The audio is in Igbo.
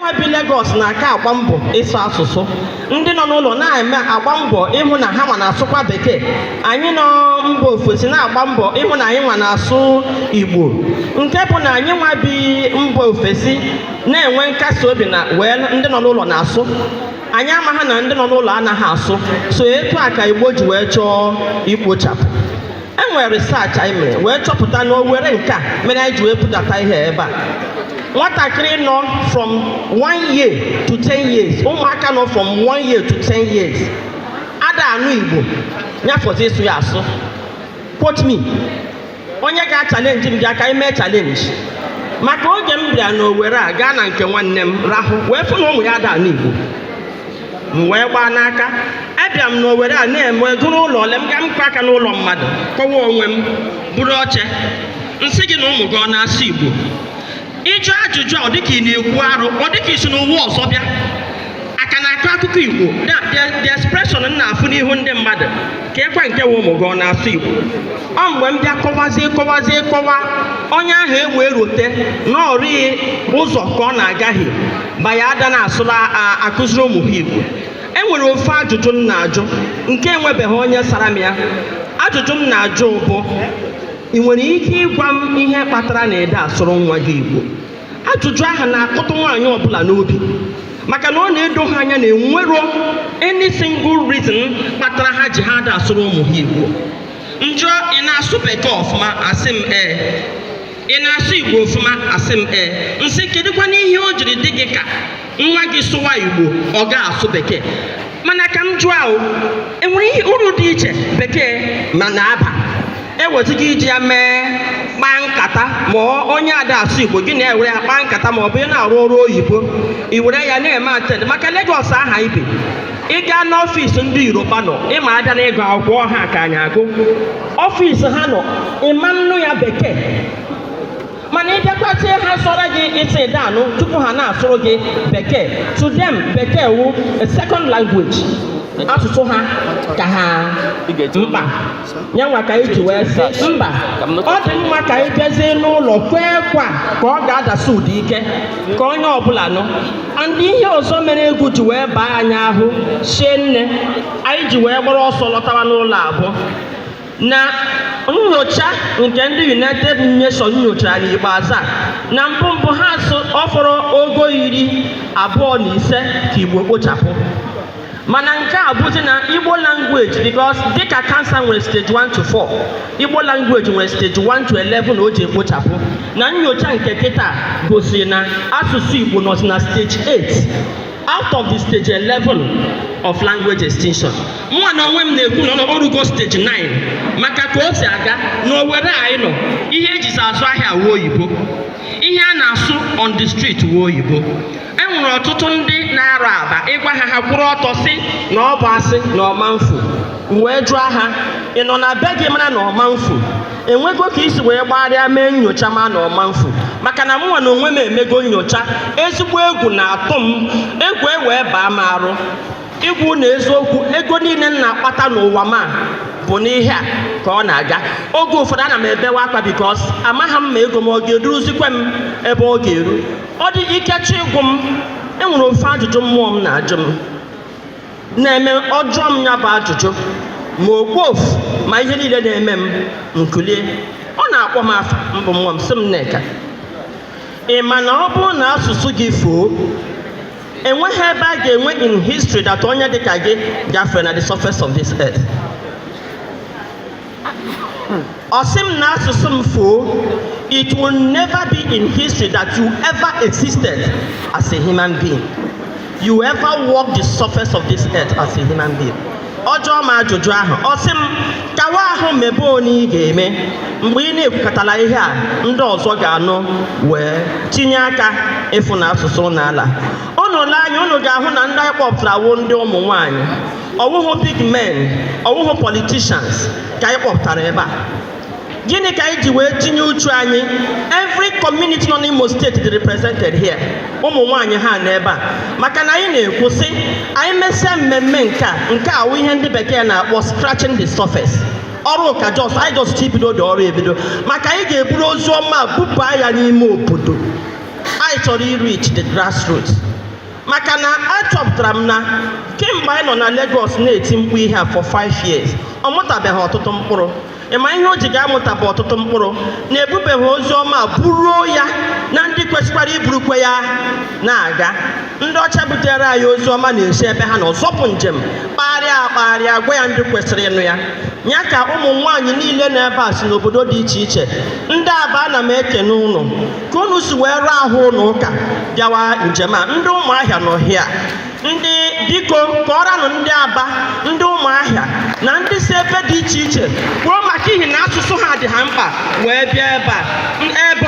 nwa bi Lagos na-aka agba mbọ ịsụ asụsụ ndị nọ n'ụlọ na-eme agba mbọ ịhụ na ha nwa na-asụkwa bekee anyị nọ mba ofesi na-agba mbọ ịhụ na anyị nwa na-asụ igbo nke bụ na anyị nwa bi mba ofesi na-enwe nkasi obi na wee ndị nọ n'ụlọ na-asụ anyị amaghị na ndị nọ n'ụlọ anaghị asụ so etu a ka igbo ji wee chọọ ikpochapụ e nwere research anyị mere wee chọpụta na owere nke a mere anyị ji wee budata ihe ebe a nwatakịrị nọ from one year to ten years ụmụaka nọ from one year to ten years ada anụ igbo nya fọzi ịsụ ya asụ quote me onye ga-achalenji m bịa ka anyị mee chalenji maka oge m bịara n'owere a gaa na nke nwanne m rahụ wee fụ na ụmụ ya ada anụ igbo m wee gbaa n'aka abịa m n'owere a na-eme ego n'ụlọ ole m gaa m kụọ aka n'ụlọ mmadụ kọwa onwe m buru oche m sị gị na ụmụ gị ọ na-asụ igbo ịjụ ajụjụ a ọ dịka ị na-ekwu arụ ọ dịka i si n'ụwa ọzọ bịa aka na-akọ akụkọ igbo the expression m na-afụ n'ihu ndị mmadụ keekwa nke wụ ụmụ gị ọ na-asụ Igbo ọ mgbe m bịa kọwazie kọwazie kọwa onye ahụ e wee rote na ọ rịghị ụzọ ka ọ na-agaghị by ya ada na-asụrụ akụziri ụmụ ha Igbo e nwere ofu ajụjụ m na-ajụ nke enwebeghị onye sara m ya ajụjụ m na-ajụ bụ ị nwere ike ịgwa m ihe kpatara na ị da asụrụ nwa gị Igbo ajụjụ ahụ na-akụtụ nwaanyị ọbụla n'obi maka na ọ na-edo ha anya na enwero any single reason kpatara ha ji ha ada asụrụ ụmụ ha igbo m jụọ ị na-asụ bekee ọfụma asị m ee ị na-asụ igbo ọfụma asị m ee m sị kedụkwanụ ihe o jiri dị gị ka nwa gị sụwa igbo ọ ga-asụ bekee mana ka m jụọ ahụ enwere ihe uru dị iche bekee ma na-aba ewezụga iji ya mee kpaa nkata ma onye ada asụ igbo gị na-ewere ya kpaa nkata ma ọ bụ ị na-arụ ọrụ oyibo i were ya na-eme attend maka Lagos ahụ anyị bi ị gaa n'ọfịs ndị yoruba nọ ị ma a bịa na ịgụ akwụkwọ ha ka anyị agụ ọfịs ha nọ ị ma nụ ya bekee mana ị bịakwachie ha sụọrọ gị ị sị ị da anụ tupu ha na-asụrụ gị bekee to them bekee wụ a second language asụsụ ha ka ha mkpa nya nwa ka anyị ji wee sị mba ọ dị mma ka anyị bịazie n'ụlọ kwuekwa ka ọ ga-adasi ụda ike ka onye ọbụla nụ and ihe ọzọ mere egwu ji wee baa anyị ahụ shie nne anyị ji wee gbara ọsọ lọtawa n'ụlọ a bụ na nnyocha nke ndị United Nations nyochara n'ikpeazụ a na mbụ mbụ ha sụ ọ fọrọ ogo iri abụọ na ise ka Igbo kpochapụ mana nke a bụzi na Igbo language because dịka kansa nwere stage 1 to 4 Igbo language nwere stage 1 to 11 o ji ekpochapụ na nyocha nke kịta gosiri na asụsụ Igbo nọzi na stage 8 out of the stage 11 of language extinction mụnwa na onwe m na-ekwu na o rugo stage 9 maka ka o si aga na Owere anyị nọ ihe ejizi azụ ahịa wụ oyibo ihe a na-asụ on the street wụ oyibo e nwere ọtụtụ ndị na-arụ aba ị gwa ha ha kwụrụ ọtọ sị na ọ bụ asị na ọ ma mfu m wee jụọ ha ị nọ na be gị mara na ọ ma mfu e nwego ka i si wee gbaarịa mee nyocha ma na ọ ma mfu maka na mụnwa na onwe m emego nyocha ezigbo egwu na-atụ m egwu ewee baa m arụ ịgwa ụnụ eziokwu ego niile m na-akpata n'ụwa m a bụ n'ihe a ka ọ na-aga oge ụfọdụ ana m ebewa akwa because amaghị m ma ego m ọ ga-eduruzikwe m ebe ọ ga-eru ọ dị ike chọ ịgwụ m e nwere ofu ajụjụ mmụọ m na-ajụ m na-eme ọ jụọ m ya bụ ajụjụ ma okpofu ma ihe niile na-eme m m kulie ọ na-akpọ m afa mbụ nwa m sị m Nneka ị ma na ọ bụrụ na asụsụ gị fuo enweghị ebe a ga-enwe in history that onye dịka gị gafere na the surface of this earth Ọ sị m na asụsụ m fuo, it will never be in history that you ever existed as a human being. You ever walk the surface of this earth as a human being. Ọ jụọ m ajụjụ ahụ, ọ sị m kawa ahụ mebe onye ị ga-eme mgbe ị na-ekwukọtala ihe a ndị ọzọ ga-anụ wee tinye aka ịfụ na asụsụ n'ala. Unu lee anya unu ga-ahụ na ndị anyị kpọpụtara wụ ndị ụmụ nwaanyị ọ wụhụ big men ọ wụhụ politicians ka anyị kpọpụtara ebe a gịnị ka anyị ji wee tinye uchu anyị every community nọ n'Imo State dị represented here ụmụ nwaanyị ha nọ ebe a maka na anyị na-ekwu sị anyị mesịa mmemme nke a nke a wụ ihe ndị bekee na-akpọ scratching the surface ọrụ ka just anyị just bidodị ọrụ ebido maka anyị ga-eburu ozi ọma bupụ ya n'ime obodo anyị chọrọ ireach the grassroots maka na achọpụtara m na kemgbe anyị nọ na Lagos na-eti mkpu ihe a for five years ọ mụtabeghị ọtụtụ mkpụrụ ị ma ihe o ji ga-amụta bụ ọtụtụ mkpụrụ na e bubeghị ozi ọma buruo ya na ndị kwesịkwara iburukwe ya na-aga ndị ọcha butere anyị ozi ọma na-esi ebe ha nọ zọpụ njem kpagharịa akpagharịa gwa ya ndị kwesịrị ịnụ ya ya ka ụmụ nwaanyị niile nọ ebe a si n'obodo dị iche iche ndị Aba ana m ekene ụnụ ka unu si wee rụọ ahụ unu ụka bịawa njem a ndị ụmụahịa nọ hịa ndị biko kọọranụ ndị aba ndị ụmụahịa na ndị si ebe dị iche iche kwuo maka ihi na asụsụ ha dị ha mkpa wee bịa ebe a ebe